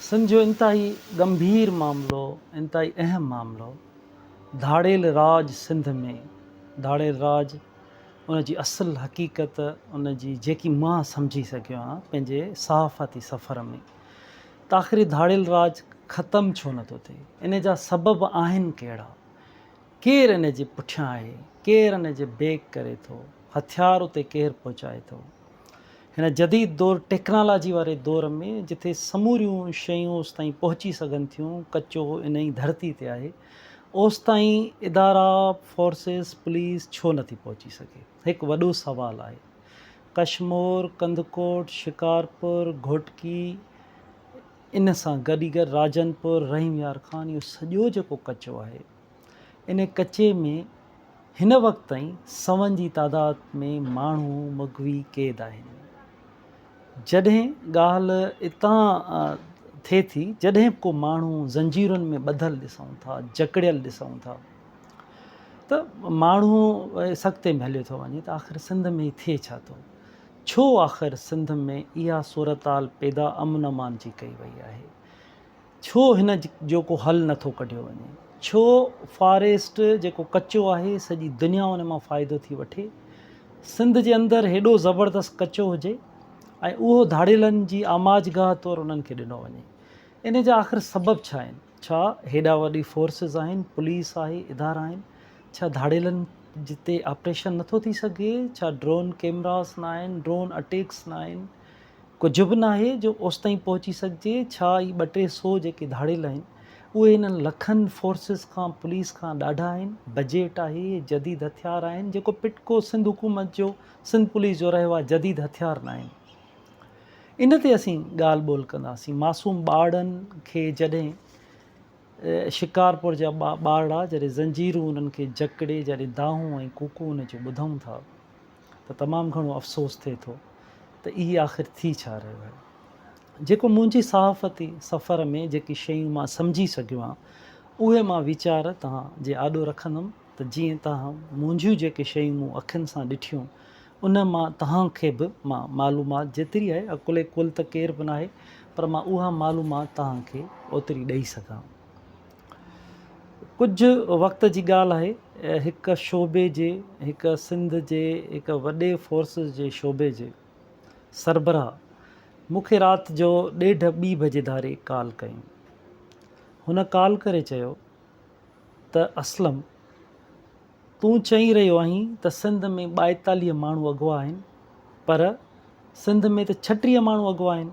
سنڌ جو انتهائي ڳنڀير معاملو، انتهائي اهم معاملو ڌاڙيل راڄ سنڌ ۾ ڌاڙيل راڄ ان جي اصل حقيقت ان جي جيڪي مان سمجهي سگهيو آهيان پنهنجي صحافتي سفر ۾ ته آخر هي ڌاڙيل راڄ ختم ڇو نه ٿو ٿئي ان جا سبب آهن ڪهڙا ڪير ان جي پٺيان آهي ڪير ان جي بيڪ ڪري ٿو هٿيار اتي ڪير پهچائي ٿو. هن جديد دور ٽيڪنالاجي واري دور ۾ جتي سموريون شيون اوستائين پهچي سگهن ٿيون ڪچو انهي ڌرتي تي آهي اوستائين ادارا فورسز پوليس ڇو نٿي پهچي سگهي هڪ وڏو سوال آهي ڪشمور ڪنڌڪوٽ شڪارپور گهوٽڪي ان سان گڏي گڏ راجن پور رحيم يار خان اهو سڄو جيڪو ڪچو آهي ان ڪچي ۾ هن وقت تائين سون جي تعداد ۾ ماڻهو مغوي قيد آهن. جڏهن ڳالهه اتان ٿئي ٿي جڏهن ڪو ماڻهو زنجيرن ۾ ٻڌل ڏسون ٿا، جڪڙيل ڏسون ٿا ته ماڻهو سڪتي ۾ هليو ٿو وڃي ته آخر سنڌ ۾ ٿئي ڇا ٿو؟ ڇو آخر سنڌ ۾ اها صورتحال پيدا امن امان جي ڪئي وئي آهي؟ ڇو هن جو ڪو حل نه ٿو ڪڍيو وڃي؟ ڇو فاريسٽ جيڪو ڪچو آهي سڄي دنيا ان مان فائدو ٿي وٺي؟ سنڌ جي اندر هيڏو زبردست ڪچو هجي ۽ اهو ڌاڙيلن جي آماج گاهه طور انهن کي ڏنو وڃي؟ ان جا آخر سبب ڇا آهن؟ ڇا هيڏا وڏي فورسز آهن، پوليس آهي، ادارا آهن، ڇا ڌاڙيلن تي آپريشن نه ٿو ٿي سگهي؟ ڇا ڊرون ڪيمراز نه آهن، ڊرون اٽيڪس نه آهن؟ ڪجهه به ناهي جو اوستائين پهچي سگهجي، ڇا اهي ٻه ٽي سو جيڪي ڌاڙيل آهن، اهي انهن لکن فورسز کان، پوليس کان ڏاڍا آهن، بجيٽ آهي، جديد هٿيار آهن، جيڪو پٽڪو سنڌ حڪومت جو، سنڌ پوليس جو رهيو آهي، جديد هٿيار ناهن. ان تي اسين ڳالهه ٻولهه ڪنداسين. معصوم ٻارڙن کي جڏهن شڪارپور جا ٻارڙا جڏهن زنجيرون انهن کي جڪڙي جڏهن دانهون ۽ ڪوڪون ان جون ٻڌون ٿا، ته تمام گهڻو افسوس ٿئي ٿو ته اهي آخر ٿي ڇا رهيو آهي جيڪو منهنجي صحافتي سفر ۾ جيڪي شيون مان سمجهي سگهيو آهيان اهي مان ويچار توهان جي آڏو رکندم ته جيئن توهان منهنجيون جيڪي شيون مون اکين سان ڏٺيون ان مان توهان کي به مان معلومات جيتري آهي عقل ڪل ته ڪير به ناهي پر مان اها معلومات توهان کي اوتري ڏئي سگهان ڪجهه وقت جي ڳالهه آهي هڪ شعبي جي هڪ سنڌ جي هڪ وڏي فورسز جي شعبي جي سربراهه مون کي رات جو ڏيڍ ٻي بجي ڌاري ڪال ڪئي هن ڪال ڪري چيو ته اسلم تون چئي رهيو آهين ته سنڌ ۾ ٻائيتاليهه ماڻهو اغوا آهن پر سنڌ ۾ ته ڇٽيهه ماڻهو اغوا آهن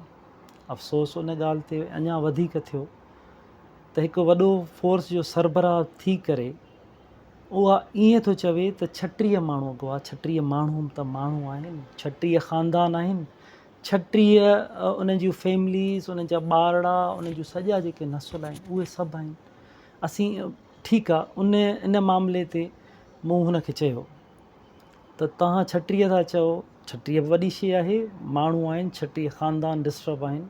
افسوس ان ڳالهه تي اڃا وڌيڪ ٿيو ته هڪ وڏو فورس جو سربراهه ٿي ڪري اها ائين ٿو چوي ته ڇٽيهه ماڻهو اڳواٽ ڇٽيهه ماڻهو ته ماڻهو آهن ڇٽيهه خاندان آهن ڇٽيهه انهن جون فيمليز انهن جا ٻارڙا انهن جون سڄا جيڪي نسل آهن اهي سڀ آهن اسين ٺيڪ آهي ان ان معاملي تي مون هن کي چيو ته توهان ڇٽيهه ٿا چئو، ڇٽيهه به وڏي شيء آهي، ماڻهو آهن، ڇٽيهه خاندان ڊسٽرب آهن،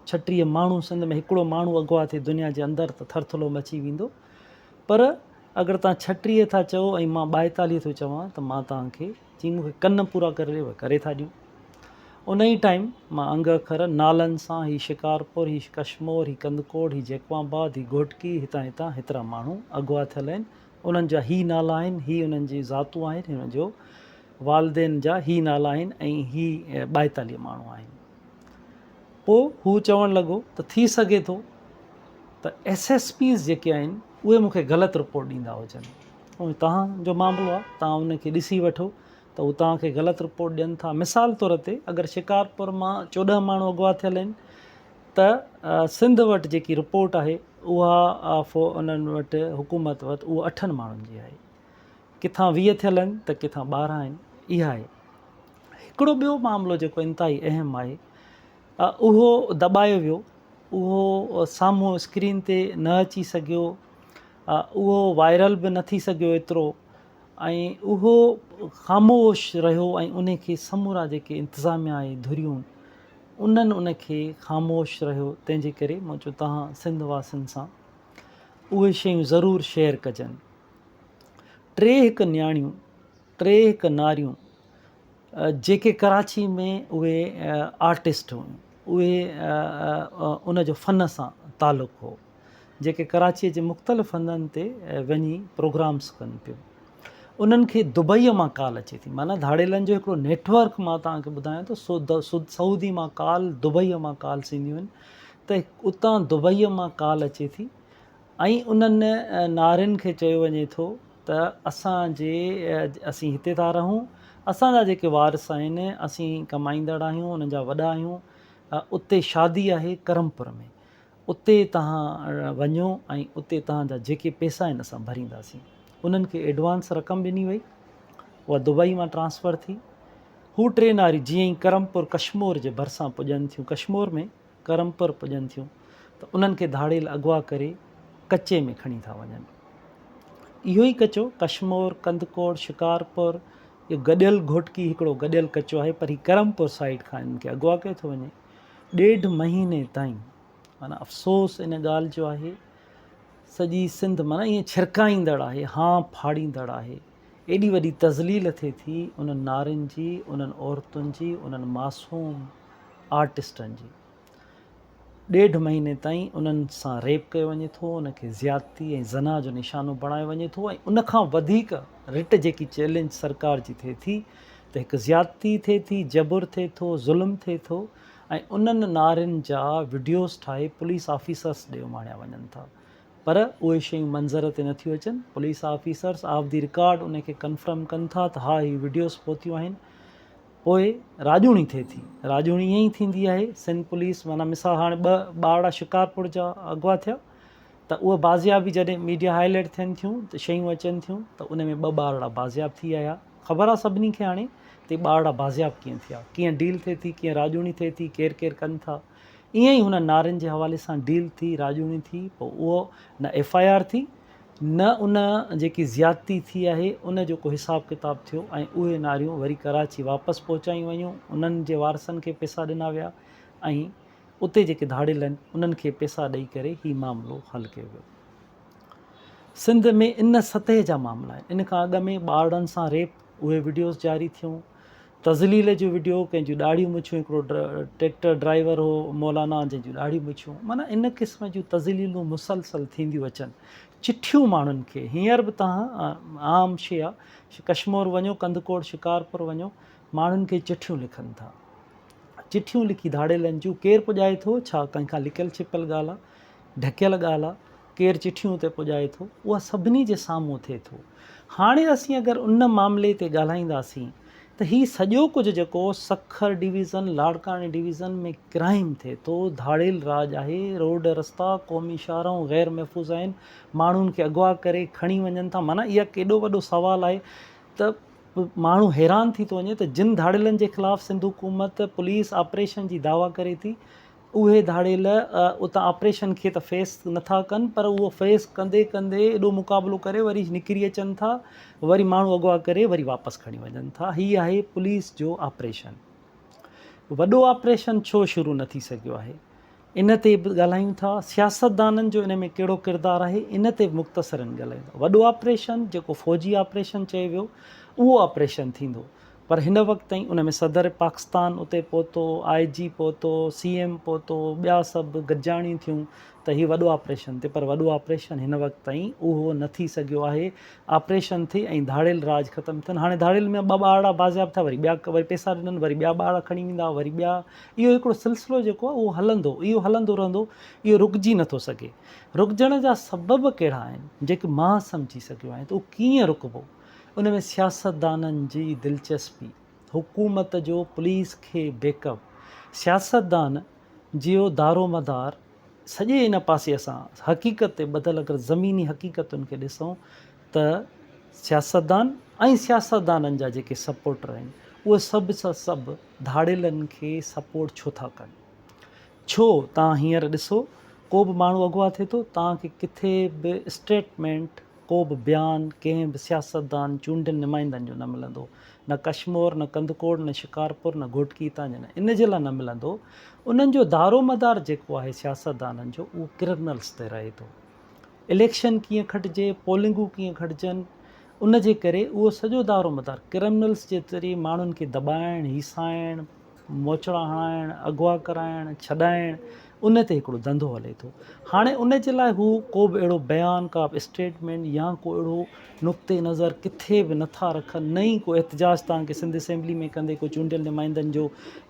ڇٽيهه ماڻهو سنڌ ۾ هڪڙو ماڻهو اغوا ٿئي دنيا جي اندر ته ٿرٿلو مچي ويندو، پر اگر توهان ڇٽيهه ٿا چئو ۽ مان ٻائيتاليهه ٿو چوان ته مان توهان کي جي مون کي ڪن پورا ڪري ڏي اهي ڪري ٿا ڏيون. ان ئي ٽائيم مان انگ اکر نالن سان هي شڪارپور، هي ڪشمور، هي ڪنڌڪوٽ، هي جيڪب آباد، هي گهوٽڪي، هتان هتان هيترا ماڻهو اغوا ٿيل آهن، انهن جا هي نالا آهن، هي انهن جون ذاتون آهن، هي انهن جو والدين جا هي نالا آهن ۽ هي ٻائيتاليهه ماڻهو آهن. پوء هو چوڻ لڳو ته ٿي سگهي ٿو ته ايس ايس پيز جيڪي آهن اهي مون کي غلط رپورٽ ڏيندا هجن. اهو توهان جو معاملو آهي، توهان ان کي ڏسي وٺو ته هو توهان کي غلط رپورٽ ڏين ٿا. مثال طور تي اگر شڪارپور مان چوڏهن ماڻهو اغوا ٿيل آهن، ته سنڌ وٽ جيڪي رپورٽ آهي اها انهن وٽ حڪومت وٽ اها اٺن ماڻهن جي آهي ڪٿان ويهه ٿيل آهن ته ڪٿان ٻارهن آهن اها آهي هڪڙو ٻيو معاملو جيڪو انتهائي اهم آهي اهو دٻايو ويو اهو سامهون اسڪرين تي نه اچي سگهيو اهو وائرل به نه ٿي سگهيو ايترو ۽ اهو خاموش رهيو ۽ ان کي سمورا جيڪي انتظاميا آهي ڌريون انهن ان کي خاموش رهيو تنهن جي ڪري مان چيو توهان سنڌ واسين سان اهي شيون ضرور شيئر ڪجن ٽي هڪ نياڻيون ٽي هڪ ناريون جيڪي ڪراچي ۾ اهي آرٽسٽ هيون اهي ان جو فن سان تعلق هو جيڪي ڪراچيء جي مختلف هنڌن تي وڃي پروگرامز ڪن پيون انهن کي دبئيء مان ڪال اچي ٿي معنيٰ ڌاڙيلن جو هڪڙو نيٽ ورڪ مان توهان کي ٻڌايان ٿو سعودي مان ڪال دبئيء مان ڪالس اينديون آهن ته اتان دبئيء مان ڪال اچي ٿي ۽ انهن نارين کي چيو وڃي ٿو ته اسان جي اسين هتي ٿا رهون اسان جا جيڪي وارث آهن اسين ڪمائيندڙ آهيون انهن جا وڏا آهيون اتي شادي آهي ڪرمپور ۾ اتي توهان وڃو ۽ اتي توهان جا جيڪي پئسا آهن اسان ڀرينداسين. انهن کي ايڊوانس رقم ڏني وئي. اها دبئي مان ٽرانسفر ٿي. هو ٽي ناري جيئن ئي ڪرمپور ڪشمور جي ڀرسان پڄن ٿيون ڪشمور ۾ ڪرمپور پڄن ٿيون ته انهن کي ڌاڙيل اغوا ڪري ڪچي ۾ کڻي ٿا وڃن. اهو ئي ڪچو ڪشمور، ڪنڌڪوٽ، شڪارپور اهو گڏيل گهوٽڪي هڪڙو گڏيل ڪچو آهي پر هي ڪرمپور سائيڊ کان انهن کي اغوا ڪيو ٿو وڃي. ڏيڍ مهيني تائين معنيٰ افسوس ان ڳالهه جو آهي سڄي سنڌ معنيٰ ائين ڇرڪائيندڙ آهي هانء ڦاڙيندڙ آهي ايڏي وڏي تذليل ٿئي ٿي انهن نارين جي انهن عورتن جي انهن معصوم آرٽسٽن جي ڏيڍ مهيني تائين انهن سان ريپ ڪيو وڃي ٿو ان کي زيادتي ۽ زنا جو نشانو بڻايو وڃي ٿو ۽ ان کان وڌيڪ رٽ جيڪي چئلينج سرڪار جي ٿئي ٿي ته هڪ زيادتي ٿئي ٿي، جبر ٿئي ٿو، ظلم ٿئي ٿو ۽ انهن نعرن جا وڊيوز ٺاهي پوليس آفيسرس ڏي اماڻيا وڃن ٿا پر اهي شيون منظر تي نه ٿيون اچن، police officers off the record انهي کي ڪنفرم ڪن ٿا ته ها هي وڊيوز پهتيون آهن پوء راڄوڻي ٿئي ٿي، راڄوڻي ائين ئي ٿيندي آهي، سنڌ پوليس معنيٰ مثال هاڻي ٻه ٻارڙا شڪارپور جا اغوا ٿيا ته اهي بازياب جڏهن ميڊيا هائي لائيٽ ٿين ٿيون ته شيون اچن ٿيون ته ان ۾ ٻه ٻارڙا بازياب ٿي آيا، خبر آ سڀني کي هاڻي تي ٻارڙا بازياب ڪيئن ٿيا، ڪيئن ڊيل ٿئي ٿي، ڪيئن راڄوڻي ٿئي ٿي، ڪير ڪير ڪن ٿا. ائين ئي هنن نارين جي حوالي سان ڊيل ٿي، راڄوڻي ٿي، پوء اهو نه ايف آء آر ٿي، نه ان جيڪي زيادتي ٿي آهي ان جو ڪو حساب ڪتاب ٿيو ۽ اهي ناريون وري ڪراچي واپس پهچايون ويون، انهن جي وارثن کي پيسا ڏنا ويا ۽ اتي جيڪي ڌاڙيل آهن انهن کي پيسا ڏئي ڪري هي معاملو حل ڪيو ويو. سنڌ ۾ ان سطح جا معاملا آهن ان کان اڳ ۾ ٻارڙن سان ريپ اهي وڊيوز جاري ٿيون تذليل جو وڊيو ڪنهن جون ڏاڙهيون مڇون هڪڙو ٽريڪٽر ڊرائيور هو مولانا جنهن جون ڏاڙهيون مڇون معنيٰ ان قسم جون تذليلون مسلسل ٿينديون اچن چٺيون ماڻهن کي هينئر به توهان عام شيا ڪشمور وڃو ڪنڌڪوڙ شڪارپور وڃو ماڻهن کي چٺيون لکن ٿا چٺيون لکي ڌاڙيلن جون ڪير پڄائي ٿو ڇا ڪنهن کان لڪيل ڇپيل ڳالهه ڍڪيل ڳالهه آ، ڪير چٺيون اتي پڄائي ٿو، اها سڀني جي سامهون ٿئي ٿو. هاڻي اسين اگر ان معاملي تي ڳالهائينداسين ته هي سڄو ڪجهه جيڪو سکر ڊويزن، لاڙڪاڻي ڊويزن ۾ ڪرائيم ٿئي ٿو، ڌاڙيل راڄ آهي، روڊ رستا، قومي شاهراهون غير محفوظ آهن، ماڻهن کي اغوا ڪري کڻي وڃن ٿا، معنيٰ اها ڪيڏو وڏو سوال آهي ته ماڻهو حيران ٿي ٿو وڃي ته جن ڌاڙيلن جي خلاف سنڌ حڪومت پوليس آپريشن جي دعويٰ ڪري ٿي، اهي ڌاڙيل اتان آپريشن کي ته فيس نه ٿا ڪن پر اهو فيس ڪندي ڪندي ايڏو مقابلو ڪري وري نڪري اچن ٿا وري ماڻهو اغوا ڪري وري واپس کڻي وڃن ٿا هي آهي پوليس جو آپريشن وڏو آپريشن ڇو شروع نه ٿي سگهيو آهي ان تي به ڳالهايون ٿا سياستدانن جو ان ۾ ڪهڙو ڪردار آهي ان تي به مختصرن ڳالهايون وڏو آپريشن جيڪو فوجي آپريشن چيو ويو اهو آپريشن ٿيندو پر هن وقت تائين ان ۾ صدر پاڪستان اتي پهتو، آء جي پهتو، سي ايم پهتو، ٻيا سڀ گڏجاڻيون ٿيون ته هي وڏو آپريشن ٿئي پر وڏو آپريشن هن وقت تائين اهو نه ٿي سگهيو آهي. آپريشن ٿئي ۽ ڌاڙيل راڄ ختم ٿين. هاڻي ڌاڙيل ۾ ٻه ٻارڙا بازياب ٿيا وري ٻيا وري پيسا ڏنن وري ٻيا ٻارڙا کڻي ويندا وري ٻيا اهو هڪڙو سلسلو جيڪو آهي اهو هلندو اهو هلندو رهندو اهو رڪجي نه ٿو سگهي. رڪجڻ جا سبب ڪهڙا آهن جيڪي مان سمجهي سگهيو آهيان ته اهو ڪيئن رڪبو. ان ۾ سياستدانن جي دلچسپي، حڪومت جو پوليس کي بيڪ اپ، سياستدان جيو دارومدار سڄي ان پاسي اسان حقيقت تي ٻڌل اگر زميني حقيقتن کي ڏسون ته سياستدان ۽ سياستدانن جا جيڪي سپورٽر آهن اهي سڀ جا سڀ ڌاڙيلن کي سپورٽ ڇو ٿا ڪن ڇو توهان هينئر ڏسو ڪو به ماڻهو اغوا ٿئي ٿو توهان کي ڪٿي به اسٽيٽمينٽ ڪو به بيان ڪنهن به سياستدان، چونڊيل نمائندن جو نه ملندو. نه ڪشمور، نه ڪنڌڪوٽ، نه شڪارپور، نه گهوٽڪي هتان جا نه ان جي لاء نه ملندو انهن جو دارومدار جيڪو آهي سياستدانن جو اهو ڪرنلس تي رهي ٿو. اليڪشن ڪيئن کٽجي، پولنگون ڪيئن کٽجن ان جي ڪري اهو سڄو دارومدار ڪرمنلس جي ذريعي ماڻهن کي دٻائڻ، هيسائڻ، موچڙا هڻائڻ، اغوا ڪرائڻ، ڇڏائڻ ان تي هڪڙو ڌنڌو هلي ٿو. هاڻي ان جي لاء هو ڪو به اهڙو بيان، ڪا به اسٽيٽمينٽ يا ڪو اهڙو نقطه نظر ڪٿي به نه ٿا رکن نه ئي ڪو احتجاج توهان کي سنڌ اسيمبلي ۾ ڪندي ڪو چونڊيل نمائندن جو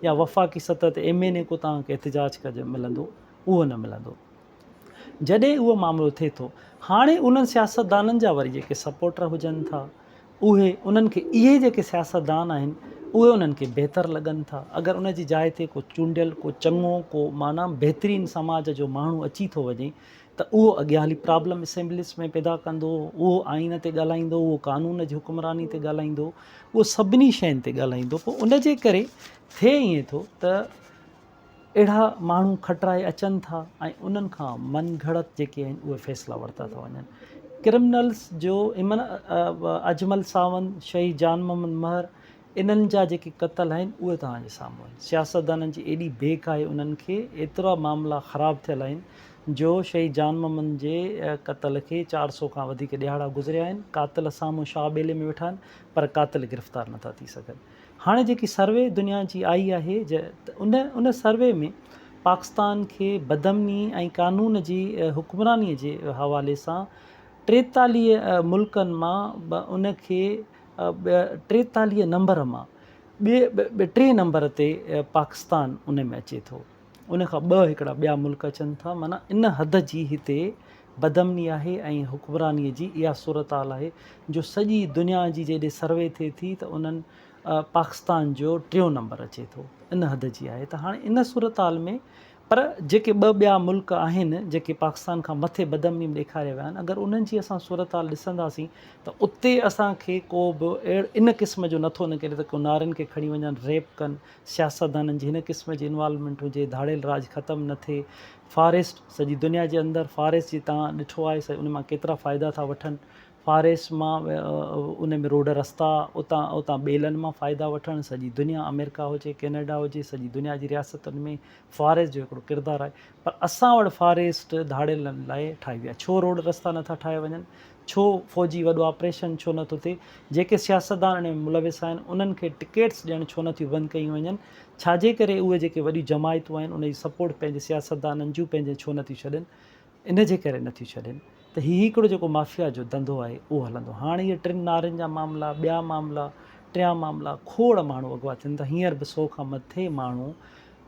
يا وفاقي سطح تي ايم اين اي ڪو توهان کي احتجاج ڪج ملندو اهو نه ملندو. جڏهن اهو معاملو ٿئي ٿو هاڻي انهن سياستدانن جا وري جيڪي سپورٽر هجن ٿا. اهي انهن کي اهي جيڪي سياستدان آهن اهي انهن کي بهتر لڳن ٿا اگر ان جي جاء تي ڪو چونڊيل ڪو چڱو ڪو معنيٰ بهترين سماج جو ماڻهو اچي ٿو وڃي ته اهو اڳيان هلي پرابلم اسيمبليز ۾ پيدا ڪندو اهو آئين تي ڳالهائيندو اهو قانون جي حڪمراني تي ڳالهائيندو اهو سڀني شين تي ڳالهائيندو پوء ان جي ڪري ٿئي ائين ٿو ته اهڙا ماڻهو کٽرائي اچن ٿا ۽ انهن کان من گهڙت جيڪي آهن اهي فيصلا ورتا ٿا وڃن. ڪرمنلز جو ايمن اجمل ساوند، شهيد جان محمد مهر انهن جا جيڪي قتل آهن اهي توهان جي سامهون آهن. سياستدانن جي ايڏي بيڪ آهي انهن کي ايترا معاملا خراب ٿيل آهن جو شهيد جان محمد جي قتل کي چار سؤ کان وڌيڪ ڏهاڙا گذريا آهن قاتل سامهون شاهه ٻيلي ۾ ويٺا آهن پر قاتل گرفتار نٿا ٿي سگهن. هاڻي جيڪي سروي دنيا جي آئي آهي ان ان سروي ۾ پاڪستان کي بدامني ۽ قانون جي حڪمراني جي حوالي سان ٽيتاليهه ملڪن مان ان کي ٽيتاليهه نمبر مان ٻئي ٽئين نمبر تي پاڪستان ان ۾ اچي ٿو. ان کان ٻه هڪڙا ٻيا ملڪ اچن ٿا معنيٰ ان حد جي هتي بدامني آهي ۽ حڪمراني جي اها صورتحال آهي جو سڄي دنيا جي جيڏي سروي ٿئي ٿي ته انهن پاڪستان جو ٽيون نمبر اچي ٿو ان حد جي آهي ته هاڻي ان صورتحال ۾ پر جيڪي ٻه ٻيا ملڪ آهن جيڪي پاڪستان کان مٿي بدامني ۾ ڏيکاري ويا آهن اگر انهن جي اسان صورتحال ڏسنداسين ته اتي اسان کي ڪو به ان قسم جو نٿو نڪري ته ڪو نارين کي کڻي وڃن ريپ ڪن سياستدانن جي هن قسم جي انوالومينٽ هجي، ڌاڙيل راڄ ختم نه ٿئي، فاريسٽ سڄي دنيا جي اندر فاريسٽ جي تان ڏٺو آهي سا ان مان ڪيترا فائدا ٿا وٺن، فاريسٽ مان ان ۾ روڊ رستا اتان اتان ٻيلن مان فائدا وٺڻ سڄي دنيا آمريڪا هجي ڪينيڊا هجي سڄي دنيا جي رياستن ۾ فاريسٽ جو هڪڙو ڪردار آهي پر اسان وٽ فاريسٽ ڌاڙيلن لاء ٺاهي ويا ڇو روڊ رستا نه ٿا ٺاهيا وڃن ڇو فوجي وڏو آپريشن ڇو نه ٿو ٿئي؟ جيڪي سياستدان ان ۾ ملوث آهن، انهن کي ٽڪيٽس ڏيڻ ڇو نه ٿيون بند ڪيون وڃن؟ ڇاجي ڪري اهي جيڪي وڏيون جماعتون آهن، ان جي سپورٽ پنهنجي سياستدانن جون پنهنجين ڇو نه ٿيون ڇڏين؟ ان جي ڪري نه ٿيون ڇڏين ته هي هڪڙو جيڪو مافيا جو ڌنڌو آهي، اهو هلندو. هاڻ اهي ٽن نارين جا معاملا، ٻيا معاملا، ٽيان معاملا، کوڙ ماڻهو اغوا ٿين ٿا. هينئر به سؤ کان مٿي ماڻهو،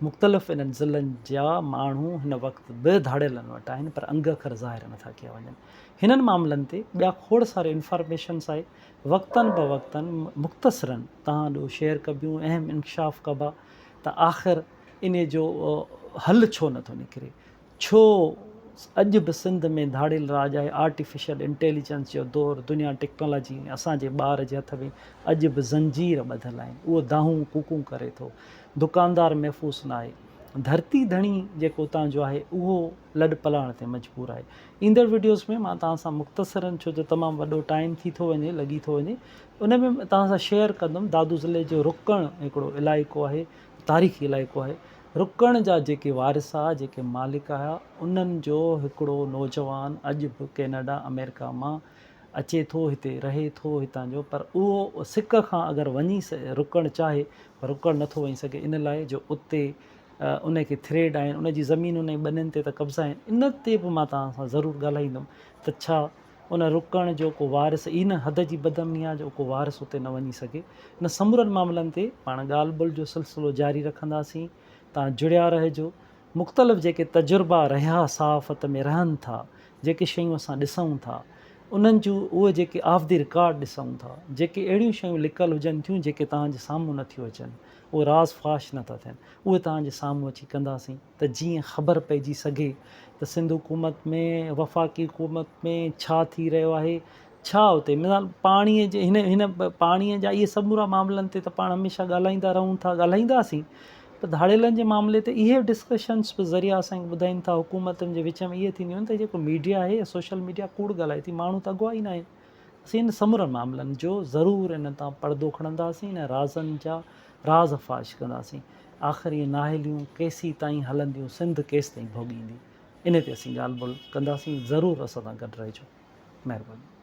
مختلف انهن ضلعن جا ماڻهو هن وقت به ڌاڙيلن وٽ آهن، پر انگ اکر ظاهر نه ٿا ڪيا وڃن. هنن معاملن تي ٻيا کوڙ ساري انفارميشنس آهي وقتاً بوقتاً مختصراً توهان ڏو شيئر ڪبيون اهم انڪشاف ڪبا ته آخر انهي جو حل ڇو نٿو نڪري ڇو اڄ به سنڌ ۾ ڌاڙيل راڄ آهي آرٽيفيشل انٽيليجنس جو دور دنيا ٽيڪنالاجي ۽ اسان جي ٻار جي هٿ ۾ اڄ به زنجير ٻڌل آهن اهو دانهون ڪوڪون ڪري ٿو دڪاندار محفوظ ناهي ڌرتي ڌڻي جيڪو اتان جو آهي اهو لڏ پلاڻ تي مجبور آهي. ايندڙ وڊيوز ۾ مان توهان سان مختصرن ڇو جو تمام وڏو ٽائيم ٿي ٿو وڃي لڳي ٿو وڃي ان ۾ توهان سان شيئر ڪندم دادو ضلعي جو رڪڻ هڪڙو علائقو آهي تاريخي علائقو آهي رڪڻ جا جيڪي وارثا جيڪي مالڪ آهيا انهن جو هڪڙو نوجوان اڄ به ڪيناڊا امريڪا مان اچي ٿو هتي رهي ٿو هتان جو پر اهو سڪ کان اگر وڃي رڪڻ چاهي پر رڪڻ نٿو وڃي سگهي ان لاء جو اتي ان کي ٿريڊ آهن ان جي زمينن ۽ ٻنين تي ته قبضا آهن ان تي به مان توهان سان ضرور ڳالهائيندم ته ڇا ان رڪڻ جو ڪو وارث ان حد جي بدامني آهي جو ڪو وارث اتي نه وڃي سگهي ان سمورن معاملن تي پاڻ ڳالهه ٻولهه جو سلسلو جاري رکنداسين توهان جڙيا رهجو مختلف جيڪي تجربا رهيا صحافت ۾ رهن ٿا جيڪي شيون اسان ڏسون ٿا انهن جون اهي جيڪي آف دي رڪارڊ ڏسون ٿا جيڪي اهڙيون شيون لڪل هجن ٿيون جيڪي توهان جي سامهون نٿيون اچن اهي راز فاش نه ٿا ٿين اهي توهان جي سامهون اچي ڪنداسين ته جيئن خبر پئجي سگهي ته سنڌ حڪومت ۾ وفاقي حڪومت ۾ ڇا ٿي رهيو آهي ڇا اتي مثال پاڻي جي هن هن پاڻي جا اهي سمورا معاملن تي ته پاڻ هميشه ڳالهائيندا رهون ٿا ڳالهائينداسين پر ڌاڙيلن جي معاملي تي اهي ڊسڪشنس به ذريعا اسان ٻڌائين ٿا حڪومتن جي وچ ۾ اهي ٿينديون آهن ته جيڪو ميڊيا آهي سوشل ميڊيا ڪوڙ ڳالهائي ٿي ماڻهو ته اڳوا ئي ناهن اسين انهن سمورن معاملن جو ضرور انهن تان پڙدو کڻنداسين ۽ رازن جا راز فاش ڪنداسين. آخر اهي نااهليون ڪيسي تائين هلنديون سنڌ ڪيستائين ڀوڳيندي انهي تي اسين ڳالهه ٻولهه ڪنداسين ضرور اسان سان گڏ رهجو. مهرباني.